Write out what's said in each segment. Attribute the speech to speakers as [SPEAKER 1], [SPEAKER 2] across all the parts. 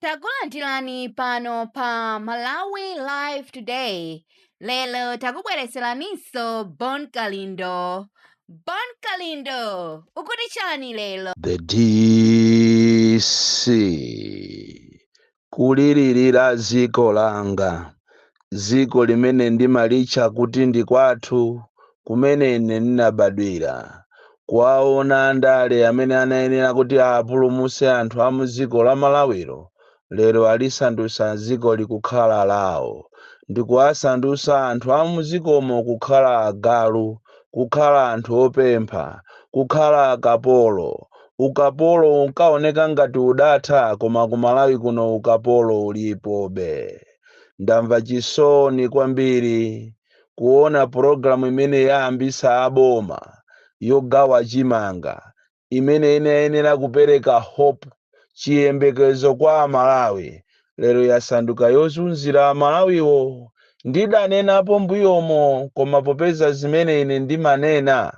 [SPEAKER 1] Takulandirani pano pa Malawi Live Today. Lero takubweretseraninso Bon Kalindo. Bon Kalindo, ukuti chani lero? The
[SPEAKER 2] DC kulilirira dziko langa Dziko limene ndimalitcha kuti ndi kwathu, kumene ine ndinabadwira, kuwawona andale amene anayenera kuti awapulumutse anthu a mu dziko la Malawilo, lero alisandutsa dzikoli kukhala lawo, ndi kuwasandutsa anthu a mu dzikomo kukhala agalu, kukhala anthu opempha, kukhala akapolo. Ukapolo unkawoneka ngati udatha, koma ku Malawi kuno ukapolo ulipobe. ndamva chisoni kwambiri kuona pulogalamu imene ayambisa aboma yogawa chimanga imene inayenera kupereka hope chiyembekezo kwa amalawi lero yasanduka yozunzira amalawiwo ndidanenapo mbuyomo koma popeza zimene ine ndimanena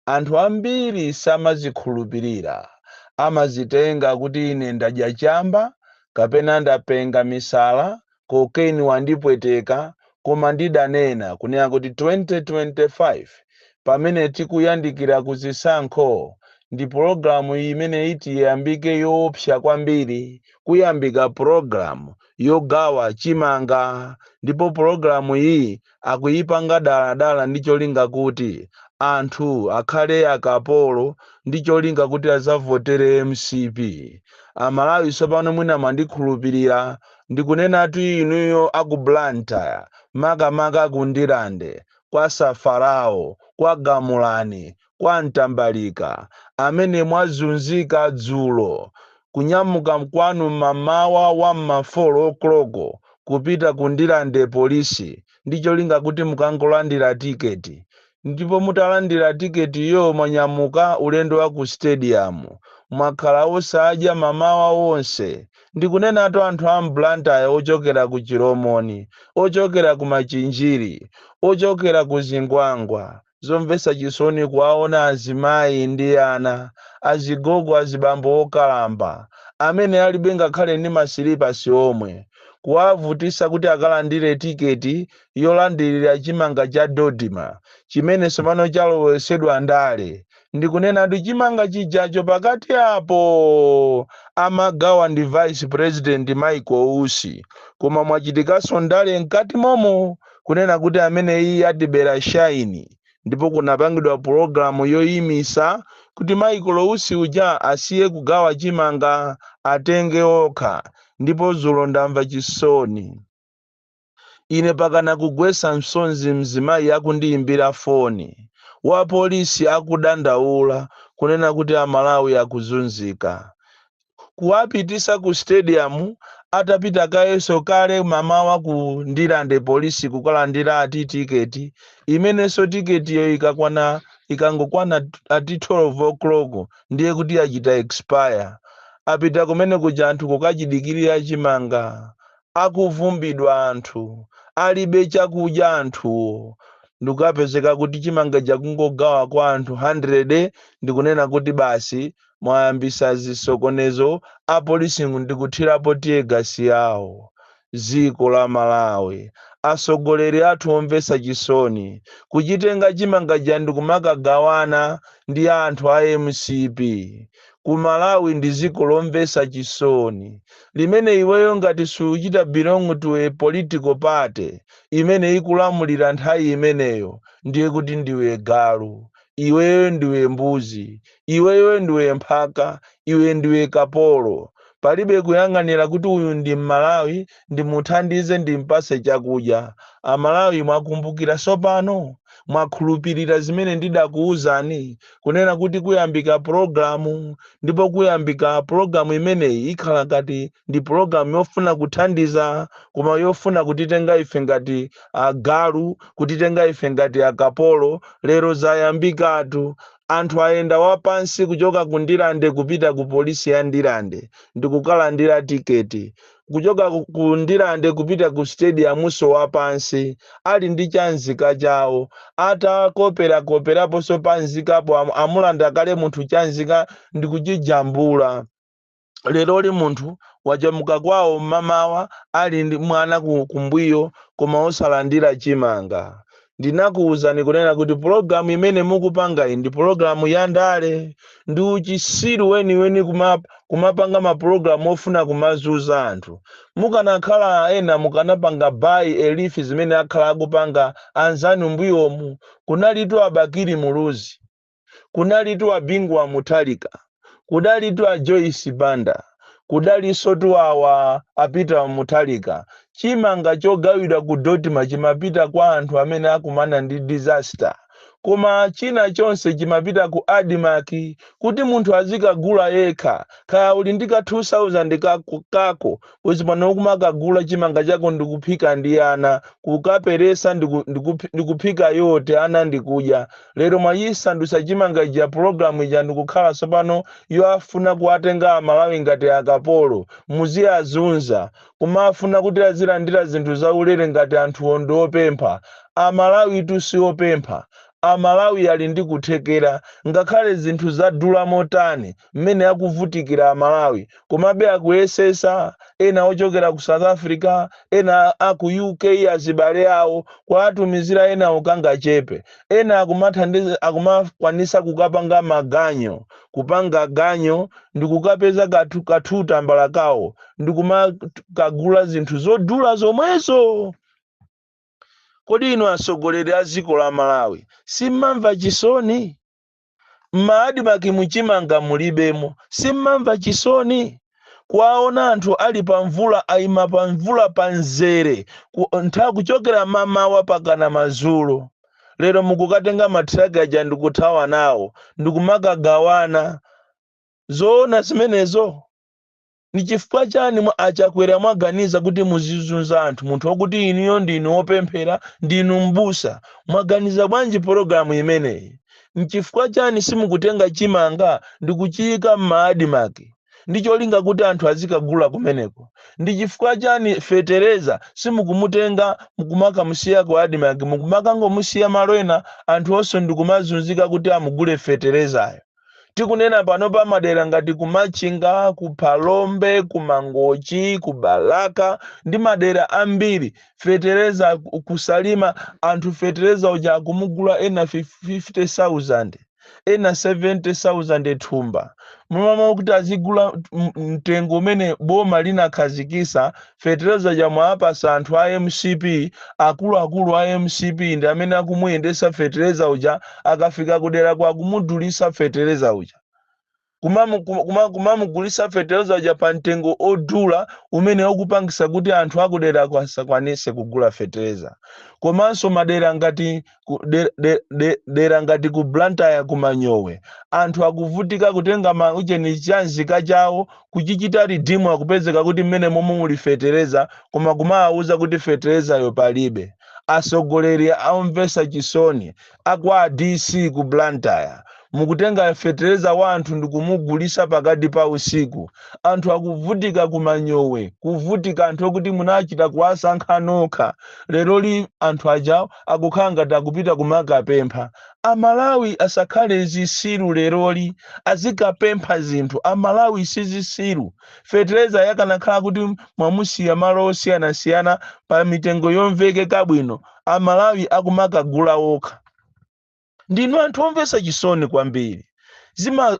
[SPEAKER 2] anthu ambiri samazikhulupirira amazitenga kuti ine ndadya chamba kapena ndapenga misala cocaine wandipweteka koma ndidanena kunena kuti 2025 pamene tikuyandikira ku zisankho pulogalamu imene iti iyambike yoopsa kwambiri kuyambika pulogalamu yogawa chimanga ndipo pulogalamu iyi akuyipanga dala dala ndi cholinga kuti anthu akhale akapolo ndi cholinga kuti azavotere mcp amalawi tsopano mwina mwandikhulupirira ndikunenatu inuyo aku blantyre makamaka ku ndirande kwa safarawo kwa gamulani kwa Ntambalika amene mwazunzika dzulo kunyamuka kwanu mamawa wa m'ma 4 o'clock kupita ku Ndirande Police ndi cholinga kuti mukangolandira ticket ndipo mutalandira ticket yo mwanyamuka ulendo wa ku stadium mwakhala osadya mamawa onse ndikunenatu anthu a m'Blantyre ochokera ku Chilomoni, ochokera ku Machinjiri, ochokera ku Zingwangwa. zomvetsa chisoni kuwaona azimayi ndi ana, azigogo, azibambo okalamba, amene alibe ngakhale ndi masilipasi omwe, kuwavutitsa kuti akalandire tiketi yolandirira chimanga cha Dodma chimene tsopano chalowetsedwa ndale. Ndikunenatu chimanga chijacho pakati apo! Amagawa ndi vice president Michael Usi koma mwachitikanso ndale mkati momo kunena kuti ameneyiyi atibera shine ndipo kunapangidwa program yoyimitsa kuti Michael Usi uja asiye kugawa chimanga atenge okha ndipo dzulo ndamva chisoni Ine pakana kugwetsa msozi mzimayi akundiyimbira foni wa polisi akudandaula kunena kuti a Malawi akuzunzika. Kuwapititsa ku stadium atapita kayenso kale mamawa ku Ndirande police kukalandira ati ticket imenenso ticket yo ikakwana ikangokwana ati 12:00 ndiye kuti yachita expire. Apita kumene kuja anthu kukachidikirira chimanga akuvumbidwa anthu alibe chakudya anthuwo ndikukapezeka kuti chimanga chija kungogawa kwa anthu 100 ndikunena kuti basi mwayambisa zisokonezo apolisi ndikuthirapo tiyegasi yawo dziko la malawi atsogoleri athu omvetsa chisoni kuchitenga chimanga chija ndikumakagawana ndi anthu a mcp Ku Malawi ndi dziko lomvetsa chisoni limene iweyo ngati suchita belong to a political party imene ikulamulira nthawi imeneyo ndiye kuti ndiwe galu iweyo ndiwe mbuzi iweyo ndiwe mphaka iwe ndiwe kapolo palibe kuyang'anira kuti uyu ndi mmalawi ndimuthandize ndimpatse chakudya. Amalawi mwakumbukira tsopano? Mwakhulupirira zimene ndidakuuzani kunena kuti kuyambika pulogalamu ndipo kuyambika pulogalamu imeneyi ikhala ngati ndi pulogalamu yofuna kuthandiza koma yofuna kutitenga ife ngati agalu, kutitenga ife ngati akapolo. Lero zayambikatu. Anthu ayenda wapansi kuchoka ku Ndirande kupita ku polisi ya Ndirande ndikukalandira tiketi. kuchoka ku- ku ndirande kupita ku stadiumunso wapansi ali ndi chamzika chawo atakoperakoperaponso pamzikapo am- amulanda kale munthu chamzika ndikuchijambula leroli munthu wanyamuka kwawo mmamawa ali ndi mwana ku- kumbuyo koma osalandira chimanga Ndinakuuzani kunena kuti pulogalamu imene mukupangayi ndi pulogalamu ya ndale. Ndi uchitsiru weniweni kumapanga ma pulogalamu ofuna kumazunza anthu. Mukanakhala ena mukanapanga by a leaf zimene akhala akupanga anzanu mbuyomu. Kunalitu a Bakili Muluzi. kunalitu a Bingu wa Mutharika, kudalitu a Joyce Banda, kudalinsotu awa a Peter Mutharika. Chimanga chogawidwa ku Dodma chimapita kwa anthu amene akumana ndi disaster. Koma china chonse chimapita ku Admarc kuti munthu azikagula yekha. Kaya uli ndi ka 2000 kako, kako Bwezi pano kumakagula chimanga chako ndikuphika ndi ana, kukaperesa ndiku, ndiku, ndikuphika yote ana ndikudya. Lero mwachisandusa chimanga chija program ija ndikukhala tsopano yofuna kuatenga amalawi ngati akapolo. Muziazunza. Kumafuna kuti azilandira zinthu zaulere ngati anthuwo ndiopempha. Amalawitu siopempha. Amalawi ali ndi kuthekera. Ngakhale zinthu zadula motani. mmene akuvutikira a Malawi komabe akuyesesa, ena ochokera ku South Africa, ena a ku UK azibale awo kuwatumizira enawo, kangachepe, ena akumakwanisa kukapanga maganyo, kupanga ganyo ndikukapeza ka two tambala kawo ndikumakagula zinthu zodula zomwezo! Kodi inu atsogoleri a dziko la Malawi simmamva chisoni? M'ma admarc mu chimanga mulibemo? Simmamva chisoni? Kuwaona anthu ali pa mvula aima pa mvula pa mzere ku, ntha, kuchokera mamawa pakana madzulo. Lero mukukatenga ma truck aja ndikuthawa nawo ndikumakagawana. Zoona zimenezo? Nichifukwa chani a Chakwera mwaganiza kuti muzizunza anthu munthu okuti inuyo ndinu opemphera ndinu m'busa? Mwaganiza bwanji pologalamu imeneyi? Nchifukwa chani simukutenga chimanga ndikuchiyika m'ma admarc ndi cholinga kuti anthu azikagula kumeneko? Ndi chifukwa chani fetereza simukumutenga mkumakamusiya ku admarc mkumakangomusiya malo ena anthu onse ndikumazunzika kuti amugule feterezayo? tikunena pano pa madera ngati ku machinga ku phalombe ku mangochi ku balaka ndi madera ambiri fetereza ku- kusalima anthu fetereza uja akumugula ena fif- 50000 ena 70000 thumba mwaamana kuti azigula m- mtengo umene boma linakhazikisa Fetereza uja mwaapasa anthu a mcp akuluakulu a mcp ndi amene akumuyendesa fetereza uja akafika kuderako akumudulisa fetereza uja kumamu kuma kumamugulisa fetereza uja pa mtengo odula umene ukupangisa kuti anthu akuderako asakwanise kugula fetereza komanso madera ngati ku- de- de- de- dera ngati ku blantyre ku manyowe anthu akuvutika kutenga maucheni chanzika chawo kuchichita ridimu akupezeka kuti mmene momwe muli fetereza koma kumawauza kuti feterezayo palibe atsogoleri omvetsa chisoni akwa dc ku blantyre mukutenga fetereza wa anthu ndikumugulitsa pakati pa usiku anthu akuvutika kumanyowe kuvutika anthu okuti munachita kuwasankha nokha leroli anthu ajawo akukhala ngati akupita kumakapempha. A Malawi asakhale zisiru leroli azikapempha zinthu. A Malawi sizisiru. Feterezayo akanakhala kuti mwamusiya malo osiyanasiyana pa mitengo yomvekeka bwino a Malawi akumakagula okha. ndinu anthu omvetsa chisoni kwambiri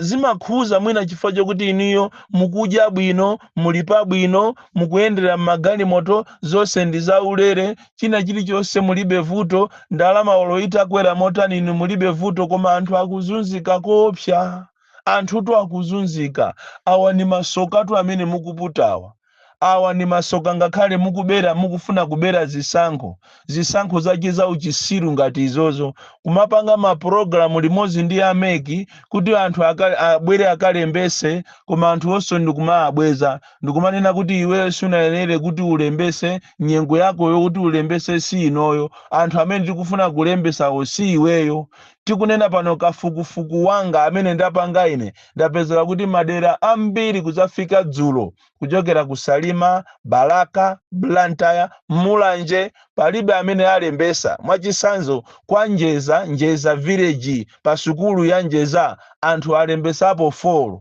[SPEAKER 2] Zimakhuza mwina chifukwa chokuti inuyo mukudya bwino muli pabwino mukuyendera m'magalimoto zonse ndi zaulere china chilichonse mulibe vuto ndalama olo itakwera motani inu mulibe vuto koma anthu akuzunzika koopsa anthutu akuzunzika awa ni masokatu amene mukuputawa Awa ndi masoka ngakhale mukubera mukufuna kubera zisankho, zisankho zache zauchisiru ngati izozo, kumapanga ma program limodzi ndi a mec kuti anthu aka abwere akalembetse koma anthu onse ndikumaabweza ndikumanena kuti iweyo sunayenere kuti ulembetse nyengo yako yokuti ulembetse si inoyo anthu amene tikufuna kulembetsawo si iweyo. Tikunena pano kafukufuku wanga amene ndapanga ine ndapeza kuti madera ambiri kuzafika dzulo kuchokera ku Salima, Balaka, Blantyre, Mulanje palibe amene alembesa. Mwachisanzo kwa Njeza, Njeza village pa sukulu ya Njeza anthu alembesapo 4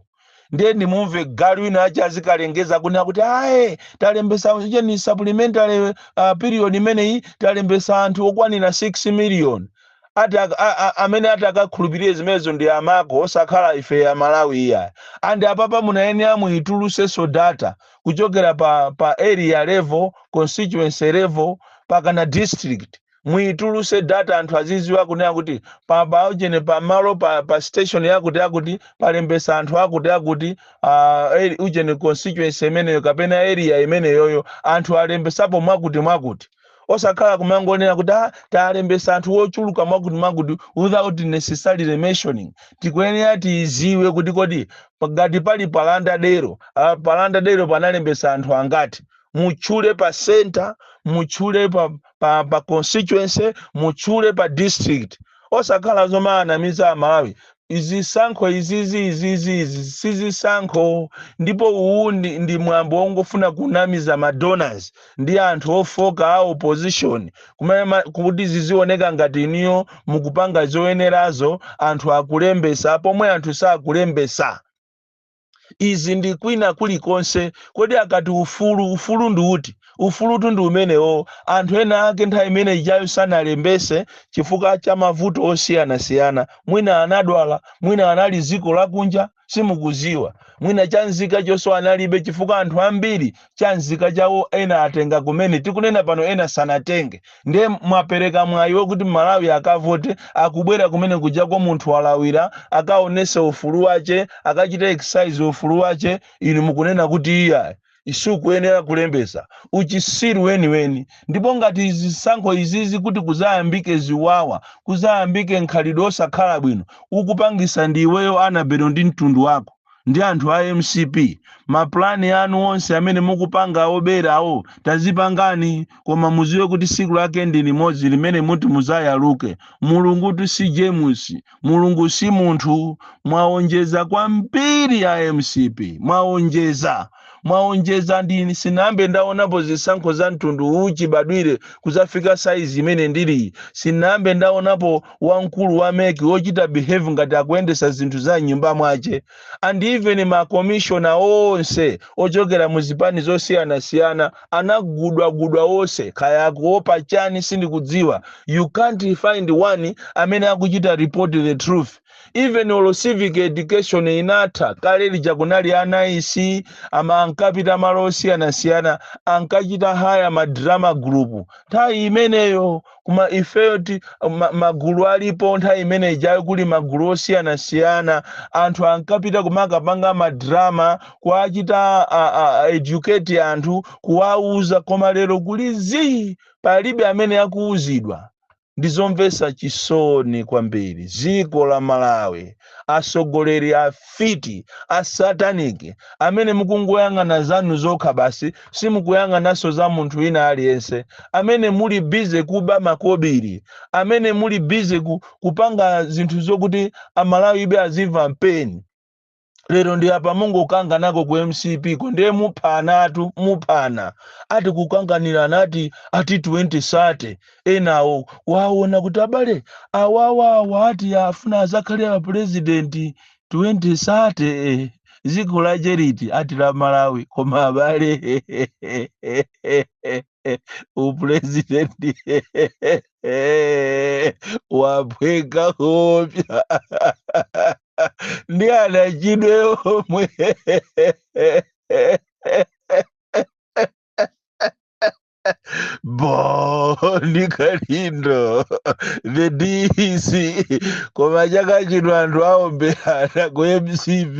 [SPEAKER 2] ndiye ndimumve galu wina achi azikalengeza kunena kuti aye talembesa cheni supplementary uh, period imeneyi talembesa anthu okwanira 6 million ati ak- a- a- amene ati akakhulupirire zimenezo ndi amako osakhala ife a Malawi iya and apapa munayenera muitulusenso data kuchokera pa pa area level constituency level pakana district muituluse data anthu aziziwa kunena kuti pa paujene pa malo pa, pa station yakuti yakuti palembesa anthu akuti akuti uh, ujene constituency imeneyo kapena area imeneyoyo anthu alembesapo mwakuti mwakuti osakhala kumangonena kuti ah, talembesa anthu ochuluka mwakuti mwakuti without necessarily mentioning tikuyenera tiziwe kuti kodi ngati pali palanda dero ah, palanda dero panalembesa anthu angati mutchule pa center mutchule pa, pa, pa constituency mutchule pa district osakhala zomaanamiza amalawi izisankho izizi izizi izi sizisankho ndipo uwu ndi, ndi mwambo wongofuna kunamiza madonors ndi anthu ofoka a opposition kuma- kuti zizioneka ngati iniyo mukupanga zoyenerazo anthu akulembesa pomwe anthu sakulembesa izi ndi kwina kulikonse kodi akati ufulu ufulu ndi uti ufulutu ndi umenewo anthu ena ake nthawi imene ijayo sanalembese chifukwa cha mavuto osiyanasiyana mwina anadwala mwina anali dziko lakunja simukuziwa mwina chanzika chonso analibe chifukwa anthu ambiri cha nzika chawo ena atenga kumene tikunena pano ena sanatenge nde mwapereka mwayi wokuti mmalawi akavote akubwera kumene kujako munthu walawira akaonese ufulu wache akachite exercise ufulu wache inu mukunena kuti iyayi sukuyenera kulembetsa uchisiru weniweni ndipo ngati zisankho izizi kuti kuzayambike ziwawa kuzayambike nkhalidwe osakhala bwino ukupangisa ndi iweyo anabelo ndi mtundu wako. ndi anthu a mcp ma plan anu onse amene mukupanga oberawo tazipangani koma muziwe kuti siku lake ndi limodzi limene muti muzayaluke mulungutu si james mulungu si munthu mwaonjeza kwambiri a mcp mwaonjeza Mwaonjeza ndi sinayambe ndaonapo zisankho za mtundu uwu chibadwire kuzafika size imene ndiliyi sinayambe ndaonapo wa mkulu wa mec wochita behave ngati akuyendesa zinthu za mnyumba mwache and even ma commissioner onse ochokera mu zipani zosiyanasiyana anagudwagudwa onse kaya akuopa chani sindikudziwa you can't find one amene akuchita report the truth. even olo civic education inatha kale lija kunali a NICE ama ankapita malo osiyanasiyana ankachita hire ma drama group nthawi imeneyo koma ifeyo ti ma- magulu alipo nthawi imene ijayo kuli magulu osiyanasiyana anthu ankapita kumakapanga madrama kuwachita a- a- a- educate anthu kuwauza koma lero kuli zii palibe amene akuuzidwa Ndi zomvesa chisoni kwambiri ziko la Malawi asogoleri afiti asatanic amene mukungoyang'ana zanu zokha basi simukuyang'anaso za munthu wina aliyense amene muli busy kuba makobili amene muli busy ku, kupanga zinthu zokuti amalawibe azimva mpeni. lero ndi apa mungokanganako ku mcp ko ndiye muphanatu muphana ati kukanganirana ati ati 2030 enawo waona kuti abale awawawa ati afuna azakhale a purezidenti 2030 eh, dziko la charity ati la malawi koma abale upurezidendi wapweka heavy ndi anachidwe omwe Boni Kalindo, the DC, koma chaka chino anthu aomberana ku MCP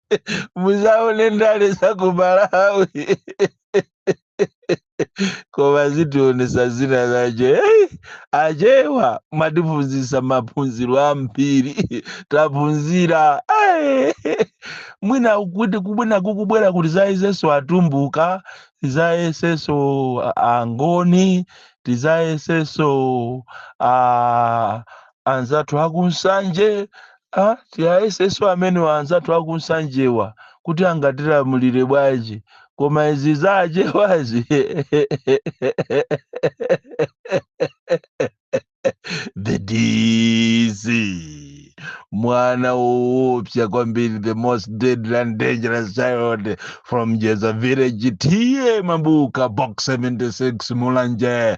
[SPEAKER 2] muzaone ndale za ku malawi koma zitionesa zina zace Ei, acewa mwatiphunzisa maphunziro ambiri taphunzira Ei, mwina kuti kubwina kukubwera kuti tizayesenso atumbuka tizayesenso angoni tizayesenso ah, anzathu aku Nsanje ah, tiwayeseso amenewa anzathu aku Nsanjewa kuti angatilamulire bwanji koma izi za achewazi the dc mwana woopsa kwambiri the most deadly and dangerous child from jeza village TA Mabuka box 76 mulanje